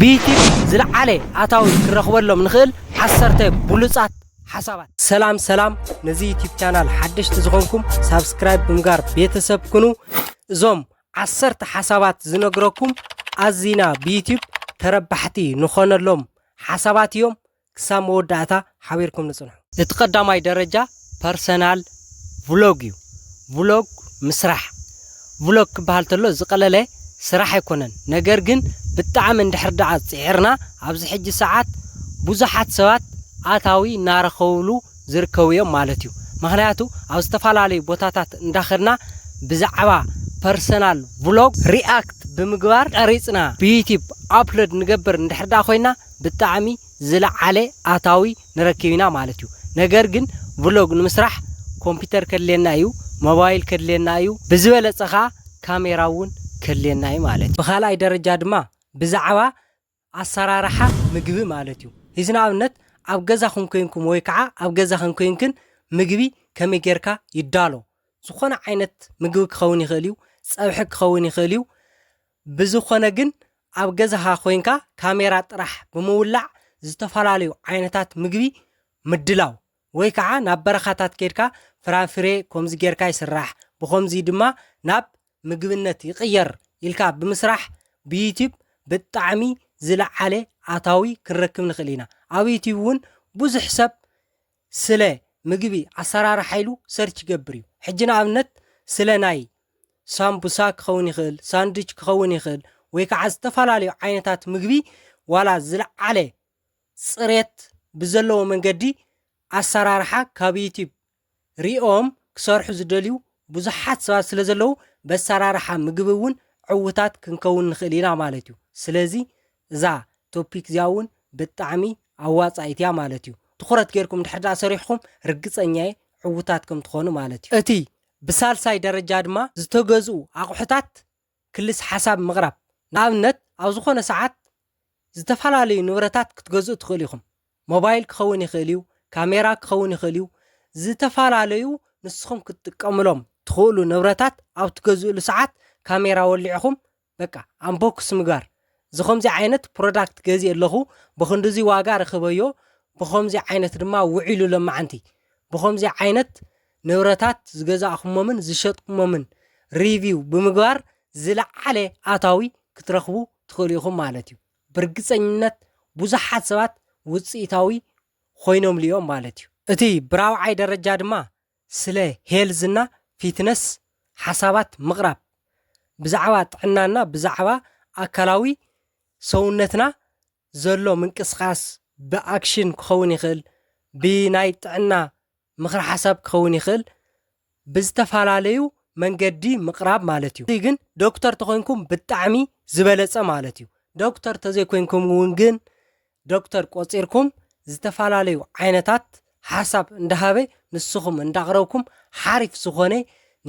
ብዩቲብ ዝልዓለ ኣታዊ ክንረኽበሎም ንኽእል ዓሰርተ ብሉጻት ሓሳባት። ሰላም ሰላም ነዚ ዩቲብ ቻናል ሓደሽቲ ዝኾንኩም ሳብስክራይብ ብምጋር ቤተሰብ ኩኑ። እዞም ዓሰርተ ሓሳባት ዝነግረኩም ኣዚና ብዩቲብ ተረባሕቲ ንኾነሎም ሓሳባት እዮም። ክሳብ መወዳእታ ሓቢርኩም ንጽንሑ። እቲ ቀዳማይ ደረጃ ፐርሰናል ቭሎግ እዩ። ቭሎግ ምስራሕ፣ ቭሎግ ክበሃል ተሎ ዝቐለለ ስራሕ ኣይኮነን። ነገር ግን ብጣዕሚ እንድሕር ደኣ ጽዒርና ኣብዚ ሕጂ ሰዓት ብዙሓት ሰባት ኣታዊ እናረኸብሉ ዝርከቡ እዮም ማለት እዩ። ምኽንያቱ ኣብ ዝተፈላለዩ ቦታታት እንዳኸድና ብዛዕባ ፐርሰናል ቭሎግ ሪኣክት ብምግባር ቀሪጽና ብዩቲብ ኣፕሎድ ንገብር እንድሕር ደኣ ኮይና ብጣዕሚ ዝለዓለ ኣታዊ ንረክብ ኢና ማለት እዩ ነገር ግን ቭሎግ ንምስራሕ ኮምፒተር ከድልየና እዩ ሞባይል ከድልየና እዩ ብዝበለፀ ከዓ ካሜራ እውን ከድልየና እዩ ማለት እዩ ብካልኣይ ደረጃ ድማ ብዛዕባ ኣሰራርሓ ምግቢ ማለት እዩ እዚ ንኣብነት ኣብ ገዛኩም ኮይንኩም ወይ ከዓ ኣብ ገዛክን ኮይንክን ምግቢ ከመይ ገይርካ ይዳሎ ዝኮነ ዓይነት ምግቢ ክከውን ይክእል እዩ ፀብሒ ክከውን ይክእል እዩ ብዝኾነ ግን ኣብ ገዛኻ ኮይንካ ካሜራ ጥራሕ ብምውላዕ ዝተፈላለዩ ዓይነታት ምግቢ ምድላው ወይ ከዓ ናብ በረኻታት ከይድካ ፍራፍሬ ኮምዚ ጌርካ ይስራሕ ብኾምዚ ድማ ናብ ምግብነት ይቕየር ኢልካ ብምስራሕ ብዩቲብ ብጣዕሚ ዝለዓለ ኣታዊ ክንረክብ ንኽእል ኢና ኣብ ዩቲብ እውን ብዙሕ ሰብ ስለ ምግቢ ኣሰራርሓኢሉ ሰርች ይገብር እዩ ሕጂ ንኣብነት ስለ ናይ ሳምቡሳ ክኸውን ይኽእል ሳንድች ክኸውን ይኽእል ወይ ከዓ ዝተፈላለዩ ዓይነታት ምግቢ ዋላ ዝለዓለ ፅሬት ብዘለዎ መንገዲ ኣሰራርሓ ካብ ዩቲብ ሪኦም ክሰርሑ ዝደልዩ ብዙሓት ሰባት ስለ ዘለዉ በሰራርሓ ምግቢ እውን ዕውታት ክንከውን ንኽእል ኢና ማለት እዩ ስለዚ እዛ ቶፒክ እዚኣ ውን ብጣዕሚ ኣዋጻኢት እያ ማለት እዩ። ትኹረት ጌርኩም እንድሕር ድኣ ሰሪሕኹም ርግጸኛ እየ ዕውታት ከም ትኾኑ ማለት እዩ። እቲ ብሳልሳይ ደረጃ ድማ ዝተገዝኡ ኣቑሑታት ክልስ ሓሳብ ምቕራብ። ንኣብነት ኣብ ዝኾነ ሰዓት ዝተፈላለዩ ንብረታት ክትገዝኡ ትኽእሉ ኢኹም። ሞባይል ክኸውን ይኽእል እዩ፣ ካሜራ ክኸውን ይኽእል እዩ፣ ዝተፈላለዩ ንስኹም ክትጥቀምሎም ትኽእሉ ንብረታት ኣብ ትገዝእሉ ሰዓት ካሜራ ወሊዕኹም በቃ ኣምቦክስ ምግባር ዝኸምዚ ዓይነት ፕሮዳክት ገዚእ ኣለኹ ብኽንድዚ ዋጋ ረኽበዮ ብኸምዚ ዓይነት ድማ ውዒሉ ለማዓንቲ ብኸምዚ ዓይነት ንብረታት ዝገዛእኹሞምን ዝሸጥኩሞምን ሪቪው ብምግባር ዝለዓለ ኣታዊ ክትረኽቡ ትኽእሉ ኢኹም ማለት እዩ ብርግፀኝነት ብዙሓት ሰባት ውፅኢታዊ ኾይኖምሉ እዮም ማለት እዩ እቲ ብራብዓይ ደረጃ ድማ ስለ ሄልዝ እና ፊትነስ ሓሳባት ምቕራብ ብዛዕባ ጥዕና እና ብዛዕባ ኣካላዊ ሰውነትና ዘሎ ምንቅስቃስ ብኣክሽን ክኸውን ይኽእል ብናይ ጥዕና ምኽረ ሓሳብ ክኸውን ይኽእል ብዝተፋላለዩ መንገዲ ምቕራብ ማለት እዩ ግን ዶክተር ተኾይንኩም ብጣዕሚ ዝበለጸ ማለት እዩ ዶክተር ተዘይኮይንኩም እውን ግን ዶክተር ቆጺርኩም ዝተፈላለዩ ዓይነታት ሓሳብ እንዳሃበ ንስኹም እንዳቕረብኩም ሓሪፍ ዝኾነ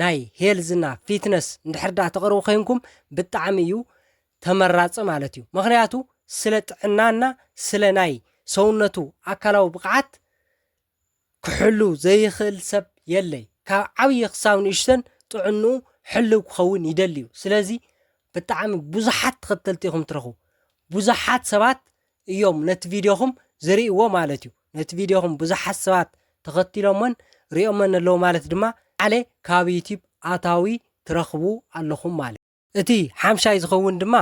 ናይ ሄልዝ እና ፊትነስ እንድሕር ዳኣ ተቕርቡ ኮይንኩም ብጣዕሚ እዩ ተመራጺ ማለት እዩ ምኽንያቱ ስለ ጥዕናና ስለ ናይ ሰውነቱ ኣካላዊ ብቕዓት ክሕሉ ዘይኽእል ሰብ የለይ ካብ ዓብይ ክሳብ ንእሽተን ጥዕንኡ ሕልው ክኸውን ይደሊዩ ስለዚ ብጣዕሚ ብዙሓት ተኸተልቲ ኢኹም ትረኽቡ ብዙሓት ሰባት እዮም ነቲ ቪድዮኹም ዝርእይዎ ማለት እዩ ነቲ ቪድዮኹም ብዙሓት ሰባት ተኸቲሎሞን ሪኦመን ኣለዉ ማለት ድማ ዓለ ካብ ዩቲብ ኣታዊ ትረኽቡ ኣለኹም ማለት እቲ ሓምሻይ ዝኸውን ድማ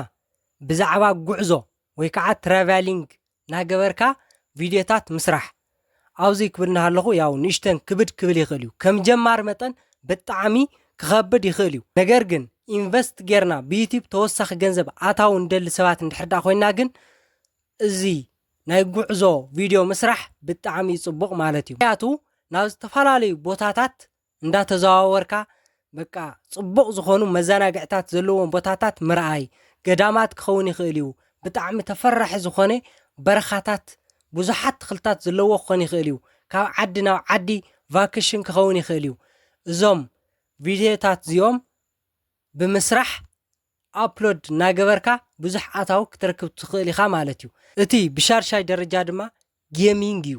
ብዛዕባ ጉዕዞ ወይ ከዓ ትራቫሊንግ ናገበርካ ቪድዮታት ምስራሕ ኣውዙይ ክብል ናሃለኹ ያው ንእሽተን ክብድ ክብል ይኽእል እዩ ከም ጀማሪ መጠን ብጣዕሚ ክኸብድ ይኽእል እዩ ነገር ግን ኢንቨስት ጌርና ብዩቲብ ተወሳኺ ገንዘብ ኣታዊ ንደሊ ሰባት እንድሕር ዳኣ ኮይና ግን እዚ ናይ ጉዕዞ ቪድዮ ምስራሕ ብጣዕሚ እዩ ፅቡቕ ማለት እዩ ምክንያቱ ናብ ዝተፈላለዩ ቦታታት እንዳተዘዋወርካ በቃ ጽቡቕ ዝኾኑ መዘናግዕታት ዘለዎም ቦታታት ምርኣይ፣ ገዳማት ክኸውን ይኽእል እዩ፣ ብጣዕሚ ተፈራሒ ዝኾነ በረኻታት ብዙሓት ተኽልታት ዘለዎ ክኾን ይኽእል እዩ፣ ካብ ዓዲ ናብ ዓዲ ቫክሽን ክኸውን ይኽእል እዩ፣ እዞም ቪድዮታት እዚኦም ብምስራሕ ኣፕሎድ እናገበርካ ብዙሕ ኣታዊ ክትረክብ ትኽእል ኢኻ ማለት እዩ። እቲ ብሻድሻይ ደረጃ ድማ ጌሚንግ እዩ።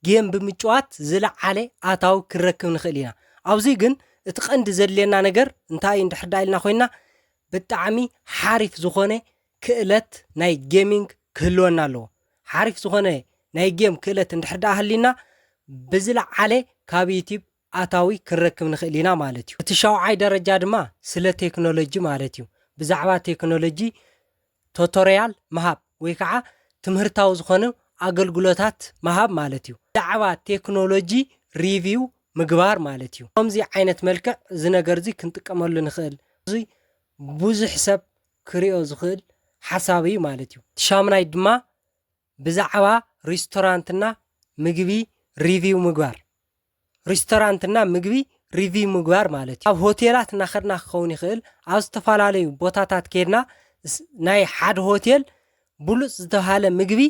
ጌም ብምጭዋት ዝለዓለ ኣታዊ ክንረክብ ንኽእል ኢና። ኣብዙይ ግን እቲ ቀንዲ ዘድልየና ነገር እንታይ እንድሕር ዳኣ ኢልና ኮይና ብጣዕሚ ሓሪፍ ዝኾነ ክእለት ናይ ጌሚንግ ክህልወና ኣለዎ። ሓሪፍ ዝኾነ ናይ ጌም ክእለት እንድሕር ዳኣ ሃሊና ብዝለዓለ ካብ ዩቲብ ኣታዊ ክንረክብ ንኽእል ኢና ማለት እዩ። እቲ ሻውዓይ ደረጃ ድማ ስለ ቴክኖሎጂ ማለት እዩ። ብዛዕባ ቴክኖሎጂ ቶቶርያል ምሃብ ወይ ከዓ ትምህርታዊ ዝኾኑ ኣገልግሎታት ምሃብ ማለት እዩ። ብዛዕባ ቴክኖሎጂ ሪቪው ምግባር ማለት እዩ። ከምዚ ዓይነት መልክዕ እዚ ነገር እዚ ክንጥቀመሉ ንኽእል። እዚ ብዙሕ ሰብ ክሪኦ ዝኽእል ሓሳብ እዩ ማለት እዩ። እቲ ሻምናይ ድማ ብዛዕባ ሪስቶራንት እና ምግቢ ሪቪው ምግባር። ሪስቶራንት እና ምግቢ ሪቪው ምግባር ማለት እዩ ኣብ ሆቴላት እናኸድና ክኸውን ይኽእል ኣብ ዝተፈላለዩ ቦታታት ከድና ናይ ሓደ ሆቴል ብሉፅ ዝተብሃለ ምግቢ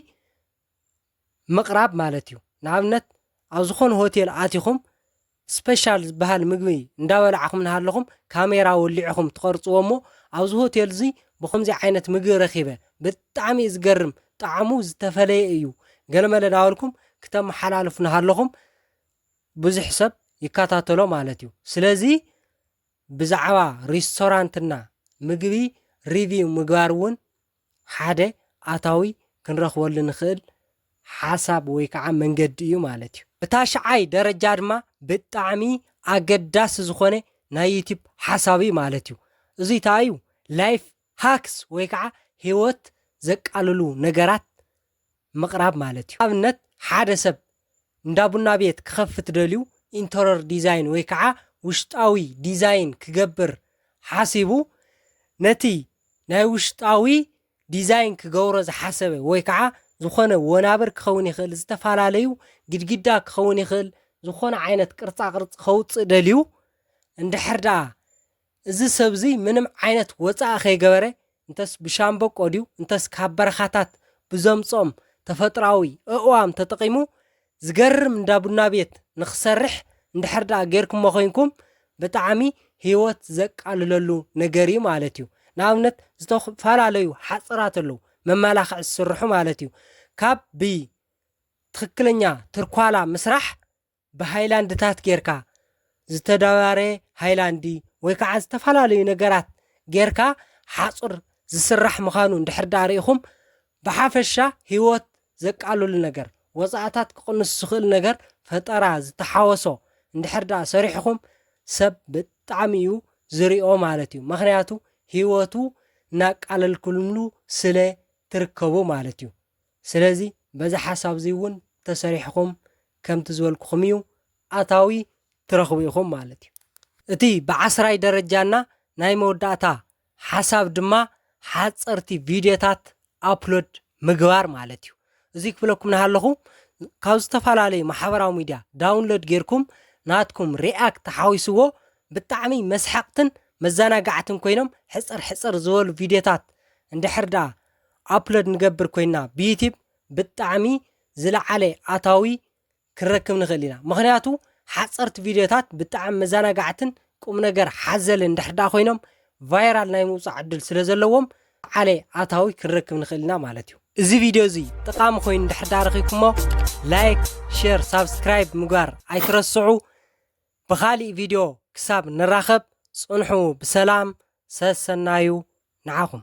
ምቕራብ ማለት እዩ ንኣብነት ኣብ ዝኾነ ሆቴል ኣቲኹም ስፔሻል ዝበሃል ምግቢ እንዳበላዕኹም እናሃለኹም ካሜራ ወሊዕኹም ትቐርፅዎ እሞ ኣብዚ ሆቴል እዚ ብከምዚ ዓይነት ምግቢ ረኺበ ብጣዕሚ እዩ ዝገርም ጣዕሙ ዝተፈለየ እዩ ገለመለ ናበልኩም ክተመሓላልፉ ናሃለኹም ብዙሕ ሰብ ይከታተሎ ማለት እዩ ስለዚ ብዛዕባ ሪስቶራንትና ምግቢ ሪቪው ምግባር እውን ሓደ ኣታዊ ክንረኽበሉ ንኽእል ሓሳብ ወይ ከዓ መንገዲ እዩ ማለት እዩ ብታሽዓይ ደረጃ ድማ ብጣዕሚ ኣገዳሲ ዝኾነ ናይ ዩቲብ ሓሳብ እዩ ማለት እዩ እዙይ ታይ እዩ ላይፍ ሃክስ ወይ ከዓ ህይወት ዘቃልሉ ነገራት ምቕራብ ማለት እዩ። ንኣብነት ሓደ ሰብ እንዳ ቡና ቤት ክኸፍት ደልዩ ኢንተሮር ዲዛይን ወይ ከዓ ውሽጣዊ ዲዛይን ክገብር ሓሲቡ ነቲ ናይ ውሽጣዊ ዲዛይን ክገብሮ ዝሓሰበ ወይ ከዓ ዝኾነ ወናብር ክኸውን ይኽእል ዝተፈላለዩ ግድግዳ ክኸውን ይኽእል ዝኾነ ዓይነት ቅርፃ ቅርፂ ከውፅእ ደልዩ እንድሕር ደኣ እዚ ሰብ'ዚ ምንም ዓይነት ወጻኢ ከይገበረ፣ እንተስ ብሻምበቆ ድዩ እንተስ ካብ በረኻታት ብዘምጽኦም ተፈጥሮኣዊ ኣእዋም ተጠቒሙ፣ ዝገርም እንዳ ቡና ቤት ንኽሰርሕ እንድሕር ደኣ ጌርኩሞ ኮይንኩም፣ ብጣዕሚ ህይወት ዘቃልለሉ ነገር'ዩ ማለት'ዩ። ንኣብነት ዝተፈላለዩ ሓጽራት ኣለዉ፣ መመላኽዒ ዝስርሑ ማለት'ዩ። ካብ ብትኽክለኛ ትርኳላ ምስራሕ ብሃይላንድታት ጌርካ፣ ዝተደባረየ ሃይላንዲ ወይ ከዓ ዝተፈላለዩ ነገራት ጌርካ ሓፁር ዝስራሕ ምኻኑ እንድሕር ድኣ ሪኢኹም ብሓፈሻ ህይወት ዘቃልሉ ነገር ወፃእታት ክቕንሱ ዝኽእል ነገር ፈጠራ ዝተሓወሶ እንድሕር ድኣ ሰሪሕኹም ሰብ ብጣዕሚ እዩ ዝሪኦ ማለት እዩ ምኽንያቱ ህይወቱ እናቃለልኩምሉ ስለ ትርከቡ ማለት እዩ። ስለዚ በዚ ሓሳብ'ዚ እውን ተሰሪሕኹም ከምቲ ዝበልኩኹም እዩ ኣታዊ ትረኽቡ ኢኹም ማለት እዩ። እቲ ብዓስራይ ደረጃና ናይ መወዳእታ ሓሳብ ድማ ሓጸርቲ ቪድዮታት ኣፕሎድ ምግባር ማለት እዩ። እዙይ ክብለኩም ናሃለኹ ካብ ዝተፈላለዩ ማሕበራዊ ሚድያ ዳውንሎድ ጌርኩም ናትኩም ሪኣክት ተሓዊስዎ ብጣዕሚ መስሓቕትን መዘናጋዕትን ኮይኖም ሕጽር ሕጽር ዝበሉ ቪድዮታት እንድሕር ደኣ ኣፕሎድ ንገብር ኮይና ብዩቲብ ብጣዕሚ ዝለዓለ ኣታዊ ክንረክብ ንኽእል ኢና ምኽንያቱ ሓፀርቲ ቪድዮታት ብጣዕሚ መዘናጋዕትን ቁም ነገር ሓዘልን እንድሕር ዳኣ ኮይኖም ቫይራል ናይ ምውፃእ ዕድል ስለ ዘለዎም ዝለዓለ ኣታዊ ክንረክብ ንኽእል ኢና ማለት እዩ እዚ ቪድዮ እዚ ጠቃሚ ኮይኑ እንድሕር ዳኣ ረኺብኩሞ ላይክ ሼር ሳብስክራይብ ምግባር ኣይትረስዑ ብኻሊእ ቪድዮ ክሳብ ንራኸብ ጽንሑ ብሰላም ሰሰናዩ ንዓኹም።